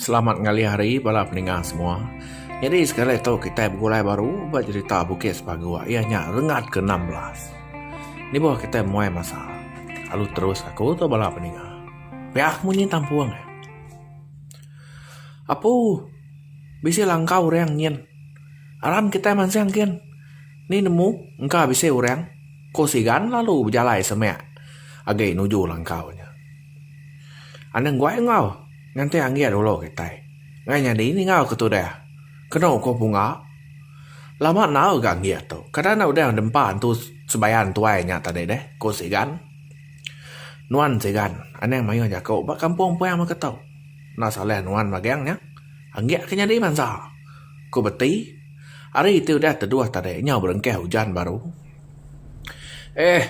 Selamat ngalih hari bala peningah semua. Nyadi sekali tu kitai begulai baru ba jerita Bukit Sepagok iya nya rengat ke enam belas. Lebuh kitai muai masa lalu terus aku tu bala peningah. Piak munyi tampung eh. Apu bisi langkau orang nyin. Aram kitai mansang gin. Ni nemu engka bisi orang ko sigan lalu bejalai semak agi nuju langkau nya. Anang guai enggau nganti anggit ulo kitai ngai nyadi ninga ke tudah keno ko punga. Lama enggau ga anggit tu kada enda udah dempa entu sebayan tuai nya tadi deh ko sigan. Nuan sigan anang maioh jako ba kampung puang mega tu. Enda salah nuan magang nya anggit ke nyadi bansa. Ku Beti, Hari ti udah teduh tadi nyau berengkah ujan baru. Eh.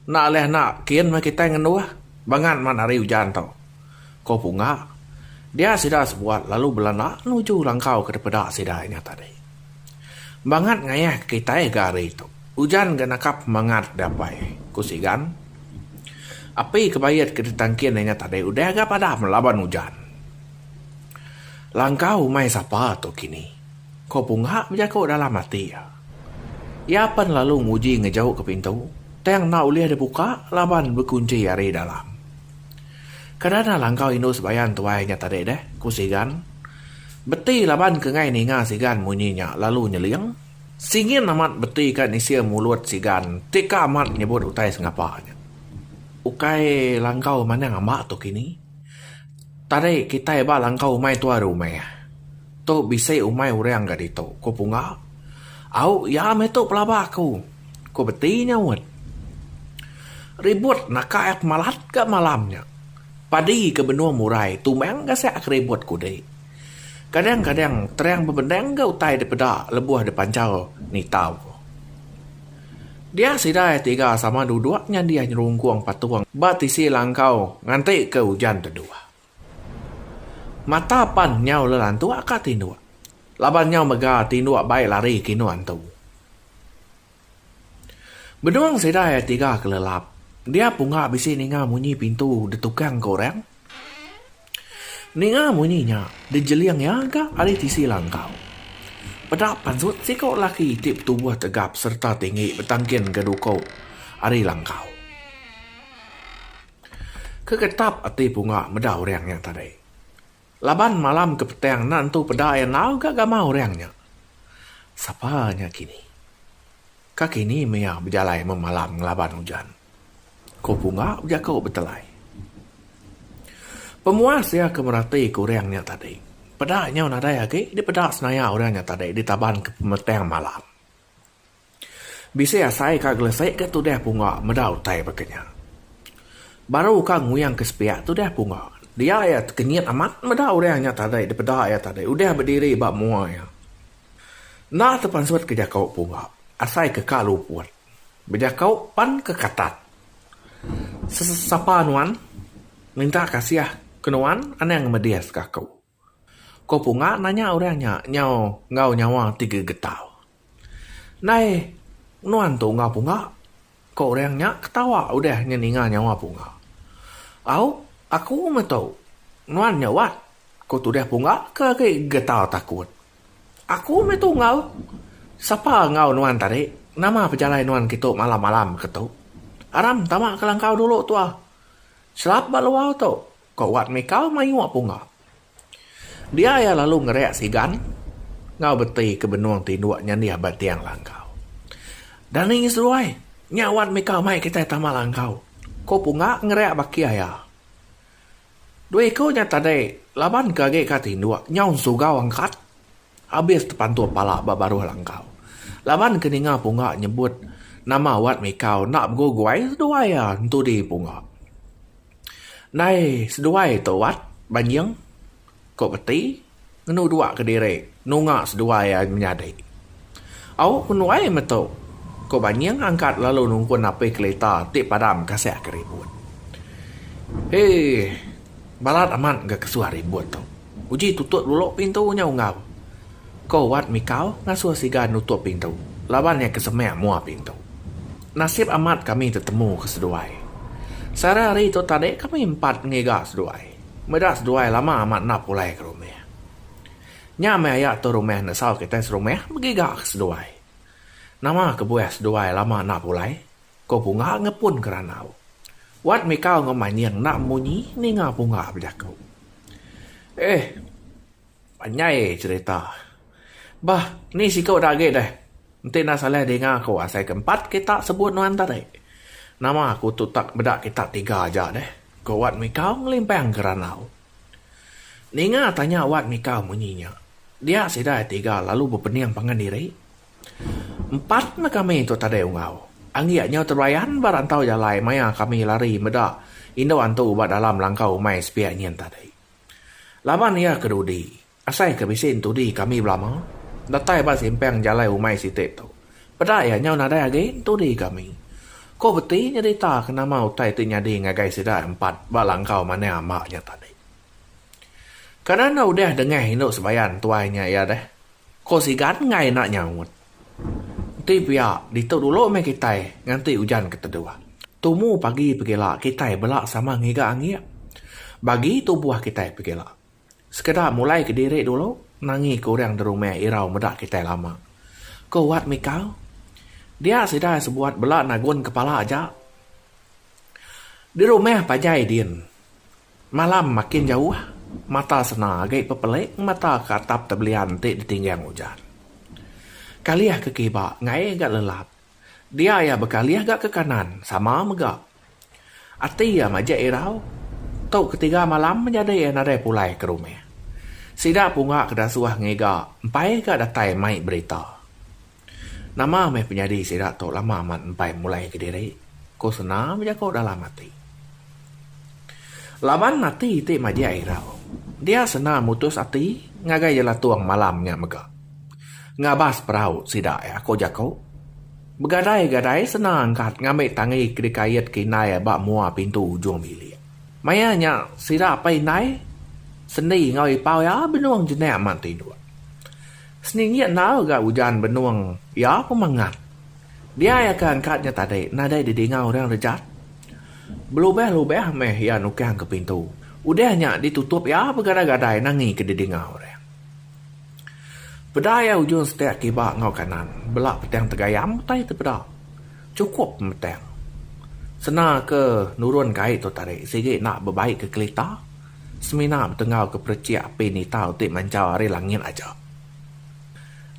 Enda ulih enda kin meh kitai ngenduh. Bangat man hari ujan tu. Ku Punga. Dia sida sebuat lalu belana nuju langkau ke dipeda sida nya tadi. Bangat ngayahka kitai ga hari tu. Ujan ga naka pemangat dia pai, ku Sigan. Api ke bait ke ditangkin inya tadi udah ga padam laban ujan. Langkau umai sapa tu kini? ko Punga bejaku dalam ati iya. Iya pen lalu nguji ngejauka pintu tang enda ulih dibuka laban bekunchi ari dalam. Kada enda langkau indu sebayan tuai nya tadi deh, ku Sigan. Beti laban ke ngai ninga Sigan munyi nya lalu nyeling. Singin amat beti ka nisir mulut Sigan ti ka amat nyebut utai sengapa nya. Ukai langkau manang amba tu kini. Tadi kitai ba langkau umai tuai rumah. Tu bisi umai orang ga ditu, ku Punga. Au iya meh tu pelaba aku, ku Beti nyaut. Ribut naka et malat ga malam nya. Padi ke benung murai tumbang ga sia ke ribut ku dek. Kadang-kadang terang bebendang ga utai dipeda lebuh dipanchau nitau, ku. Dia sidai tiga sama duduk nyandih nyerungkung patung ba tisi langkau nganti ke ujan teduh. Mata pan nyau lelantuk ka tinduk laban nyau mega tinduk bai lari kinu antu. Benung sidai tiga kelelap dia punga bisi ninga munyi pintu ditukang ke orang. Ninga munyi nya, dijeling iya ga ari tisi langkau. Peda pansut siko lelaki ti betubuh tegap sereta tinggi betangkin ga duko ari langkau. Kegetap ati Punga meda orang nya tadi. Laban malam ke petang enda nentu peda iya enggau ga gamal orang nya. Sapa nya kini? Ka kini meh iya bejalai memalam ngelaban ujan. Ko Punga bejako betelai. Pemuas iya ke merati ke orang nya tadi. Peda nyau nadai agi dipeda senaya orang nya tadi ditaban ke pemetang malam. Bisi asai ka gelesik ga tudah Punga meda utai baka nya. Baru ka nguyang ke sepiak tudah Punga. Dia iya tekenyit amat meda orang nya tadi dipeda iya tadi udah bediri ba mua iya. Enda tepansut ke jako Punga asai ke ka luput. Bejakau pan ke katat. Sesapa nuan minta kasih ke nuan anang medis ke aku. Ko punga nanya orang nya nyau enggau nyawa ti gegetau. Ndai nuan tu enggau punga ko orang nya ketawa udah nyeninga nyawa punga. Au aku metu nuan nyaubat ko tudah punga ke agi gegetau takut. Aku meh tunggal. Sapa enggau nuan tadi? Nama pejalai nuan kitu malam-malam ke tu? Aram tama ke langkau dulu tua. Chelap ba luar tu, ko Wat Mikal mayuh punga. Dia iya lalu ngereak sigan enggau beti ke benung tinduk nyandih ba tiang langkau. Dani seduai, nya Wat Mikal mai kitai tama langkau, ko Punga ngereak baki aya. Dua iku nya tadi laban ke agi ka tinduk nyau sugau angkat abis tepantup pala ba baruh langkau. Laban ke ninga pungga nyebut nama wat mikau enda beguguai seduai iya entudi pungga. Ndai seduai tu wat banjing. Ko Beti ngenu dua kediri nunga seduai ai menyadi. Au ku nuai metu, ko Banying angkat lalu nungkun api kelita ti padam kasah ke ribut. Hee balat amat ga kesuah ribut tu. Uji tutup dulu pintu nya Ungau. Ko Wat Mikau ngasuh Siga nutup pintu laban iya ke semang mua pintu. Nasib amat kami tetemu ke seduai. Sehari hari tu tadi kami empat ngiga seduai. Meda seduai lama amat enda pulai ke rumah. Nya meh aya tu rumah nesau kitai serumah begiga ke seduai. Nama kebuah seduai lama enda pulai? ko Punga ngepun ke randau. Wat Mikau enggau Manying enda munyi ninga Punga bejaku. Eh. Panjai cerita. Bah, ni siku da agi deh. Enti enda salah dinga aku asai ke empat kita sebut nuan tadi. Nama aku tu tak meda kita tiga aja deh, ku Wat Mikau ngelimpang gerandau. Ninga tanya Wat Mikau munyi nya, dia sida ai tiga lalu bepening pangan diri. Empat ne kami tu tadi unggau. Anggik nyau tebayan ba rantau jalai maya kami lari meda indu antu ba dalam langkau umai sepiak nyin tadi. Laban iya ke dudi, asai ke bisi entudi kami belama datai ba simpang jalai umai siti tu. Peda iya nyau nadai agi entudi kami. Ko Beti nyerita ke nama utai ti nyadi ngagai sida empat ba langkau manah amba nya tadi. Kanan udah dengah indu sebayan tuai nya iya deh. Ko Sigan enggai enda nyaut. Enti pia, ditu dulu meh kitai nganti ujan ke teduh. Tumu pagi pegila kitai bela sama ngiga angik. Bagi tubuh kitai pegila. Sekeda mulai ke diri dulu nangi ke orang derumah irau meda kitai lama, ko Wat Mikau. Dia sida sebuat bela nagun kepala aja. Derumah panjai din. Malam makin jauh, mata sena agi bepelik ngemata ke atap tebelian ti ditinggang ujan. Kalih ke kiba ngaih ga lelap. Dia iya bekalih ga ke kanan sama mega. Ati iya majek irau. Tu ketiga malam menyadi iya nadai pulai ke rumah. Sida punga ke dasuh ngiga empai ga datai mai berita. Nama meh penyadi sida tu lama amat empai mulai ke diri, ku Sena bejaku dalam ati. Laban ati ti majak irau, dia Sena mutus ati ngagai jelatung malam nya mega. Ngabas perau sida iya ku jaku. Begadai-gadai Sena angkat ngambi tangi ke dikait ke indai ba mua pintu ujung bilik. Maya nya sida apai indai sendi enggau ipau iya benung jenak mat tinduk. Seninggi enggau ga ujan benung iya pemangat. Diai aka angkat nya tadi nadai didinga orang rejat. Belubah-lubah meh iya nukang ke pintu. Udah nya ditutup iya begadai-gadai nangi ke didinga orang. Peda iya ujung setek kiba enggau kanan, bela petang tegayam utai ti peda. Chukup pemetang. Sena ke nurun ke ai tu tadi sigi enda bebai ke kelita. semina betengau ke perechik api nitau ti manjau ari langit aja.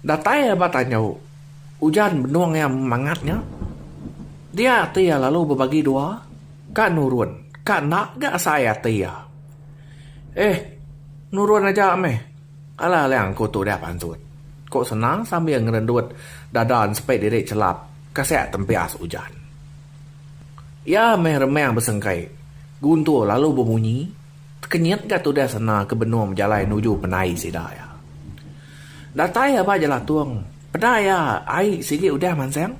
Datai iya ba tandu, ujan benung iya mangat nya. Dia ati iya lalu bebagi dua, ka nurun, ka enda ga asai ati iya. Eh, nurun aja meh. Alah alang ku tudah pantut, ku Senang sambil ngerendut dada ensepit diri chelap ka siak tempias ujan. Iya meh remang besengkai, guntur lalu bemunyi tekenyit ga tudah sena ke benung bejalai nuju pendai sida iya. Datai aba jelatung, peda iya ai sigi udah mansang.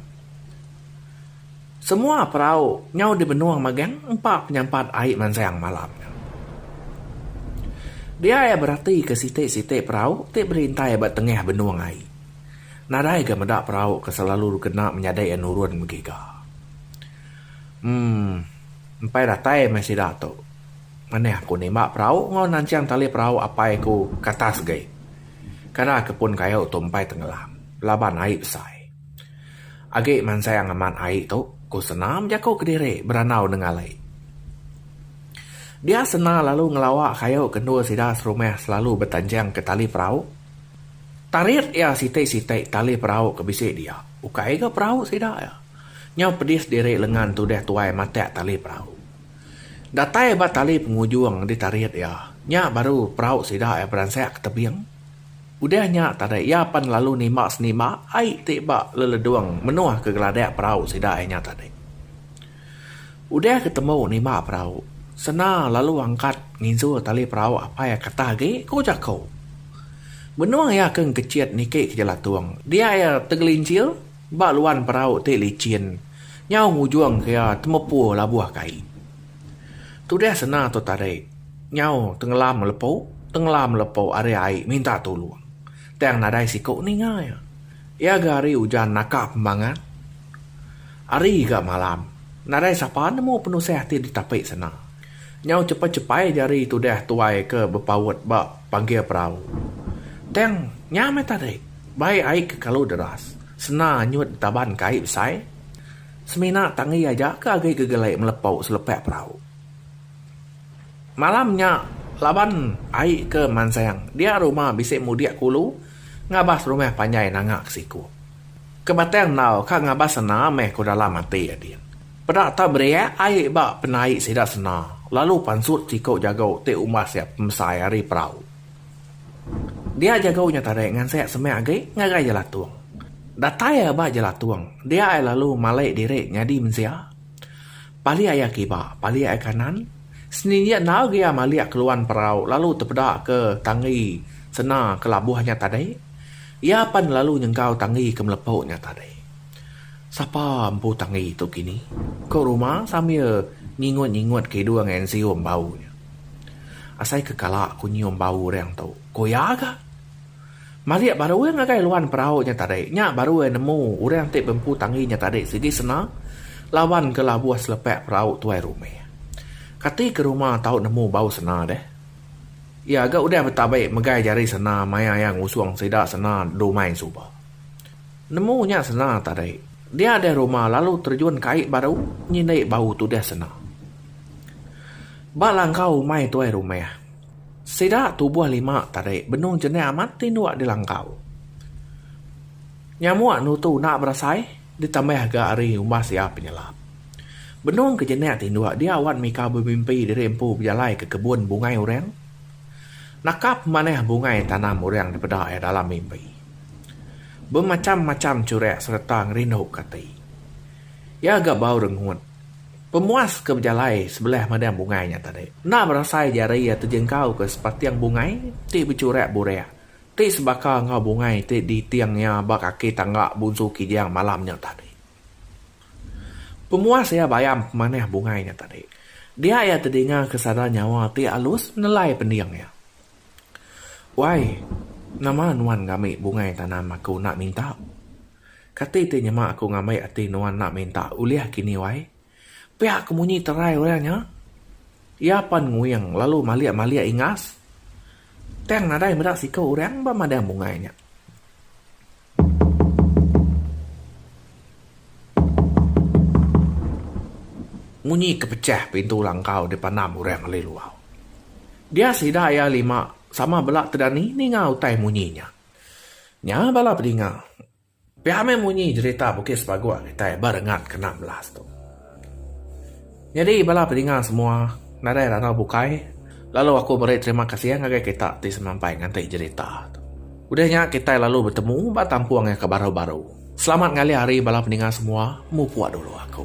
Semua perau nyau di benung magang empa penyampat ai mansang malam nya. Dia iya beratika siti-siti perau ti berintai ba tengah benung ai. Nadai ga meda perau ke selalu dikena menyadi iya nurun megi ga. Emmm empai datai meh sida tu. Manih aku nimba perau enggau nanching tali perau apai aku ke atas agi. Kada ke pun kayu tu empai tengelam laban ai besai. Agi mansang amat ai tu ku Sena bejaku kediri berandau nengah lei. Dia Sena lalu ngelawa kayu ke endur sida serumah selalu betanching ke tali perau. Tarit iya siti-siti tali perau ke bisi dia. Ukai ga perau sida iya. Nyau pedis diri lengan tudah tuai matak tali perau. Datai ba tali pengujung ditarit iya, nya baru perau sida iya beransak ke tebing. Udah nya tadi iya pan lalu nimba senimba ai ti ba leledung menuh ke geladak perau sida iya nya tadi. Udah ke tembu nima perau, Sena lalu angkat nginjur tali perau apai iya ketah agi, ku jaku. Benung iya ke engkechit niki ke jelatung, dia iya tegelincir ba luan perau ti lichin nyau ngujung ke iya temepu labuh kai. Tudah Sena tu tarik nyau tengelam lepu, tengelam lepu ari ai minta tulung tang nadai siku ninga iya. Iya ga hari ujan naka pembangat hari ga malam nadai sapa nemu penusah ati ditapi sena nyau chepai chepai ja hari tudah tuai ke bepaut ba panggir perau tang nya meh tadi bai ai ke kalu deras sena anyut ditaban kai besai semina tangi aja ke agi gegelek melepau selepak perau malam nya laban ai ke mansang dia rumah bisi mudik kulu. Ngabas rumah panjai nanga ke siku. Ke batang enau ka ngabas sena meh ku dalam ati adin. Peda tau beriak ai ba penai sida sena lalu pansut siku jago ti umbas ia pemesai ari perau. Dia jago nya tadi ngansik semak agi ngagai jelatung. Datai ia ba jelatung dia ia lalu malai diri nyadi mensia. Palik aya kiba, palik aya kanan, seni nya endaau gaya malik keluan perau lalu tepeda ke tanggi sena ke labuh nya tadi. Iya pan lalu nyenggau tanggi ke melepo nya tadi. Sapa empu tanggi tu kini? ko Ruma sambil nyingut-nyingut ke hidung ensium bau nya. Asai ke kala ku nyium bau orang tu, ko iya ga. Malik baru iya ngagai luan perau nya tadi. Nya baru iya nemu orang ti bempu tangi nya tadi sigi sena lawan ke labuh selepak perau tuai rumah. Kati ke rumah tau nemu bau sena deh. Iya ga udah betabi megai jari sena maya iya ngusung sida sena dumai suba. Nemu nya sena tadi. Dia deh rumah lalu terjun ke ai baru nyindik bau tu deh sena. Ba langkau umai tuai rumah. Sida tubuh lima tadi benung jenik amat ti endur di langkau. Nyamuk nutu enda berasai ditambah ga ari umbas iya penyelap. Benung ke jenik ti endur dia wan mika bemimpi diri empu bejalai ke kebun bungai orang. Nakap manah bungai tanam orang dipeda iya dalam mimpi. Bemacham-macham churek sereta ngerinduka ati. Iya ga bau rengut. Pemuas ke bejalai sebelah madang bungai nya tadi enda berasai jari iya tejengkauka sepating bungai ti bechurak burak ti sebaka enggau bungai ti diting iya ba kaki tangga Bunsu Kijang malam nya tadi. Pemuas iya bayam pemanah bungai nya tadi dia iya tedinga ke sada nyawa ti alus nelai pending iya. Wai, nama nuan ngami bungai tanam aku enda minta? Kati ti nyema aku ngambi ati nuan enda minta ulih kini wai? Pia ku munyi terai orang nya. Iya pan nguing lalu malik-malik ingas. Tang nadai meda siku orang ba madang bungai nya. Munyi ke pechah pintu langkau dipandam orang alai luau. Dia sida iya lima sama bela te dani ninga utai munyi nya. Nya bala pedinga. Pia meh munyi jerita Bukit Sepagok kitai ba rengat kena melas tu. Nyadi bala pedinga semua nadai randau bukai lalu aku meri terima kasih ngagai kita ti semampai nganti jerita tu. Udah nya kitai lalu betemu ba tampung iya ke baru-baru. Selamat ngalih hari bala pedinga semua, mupuk dulu aku.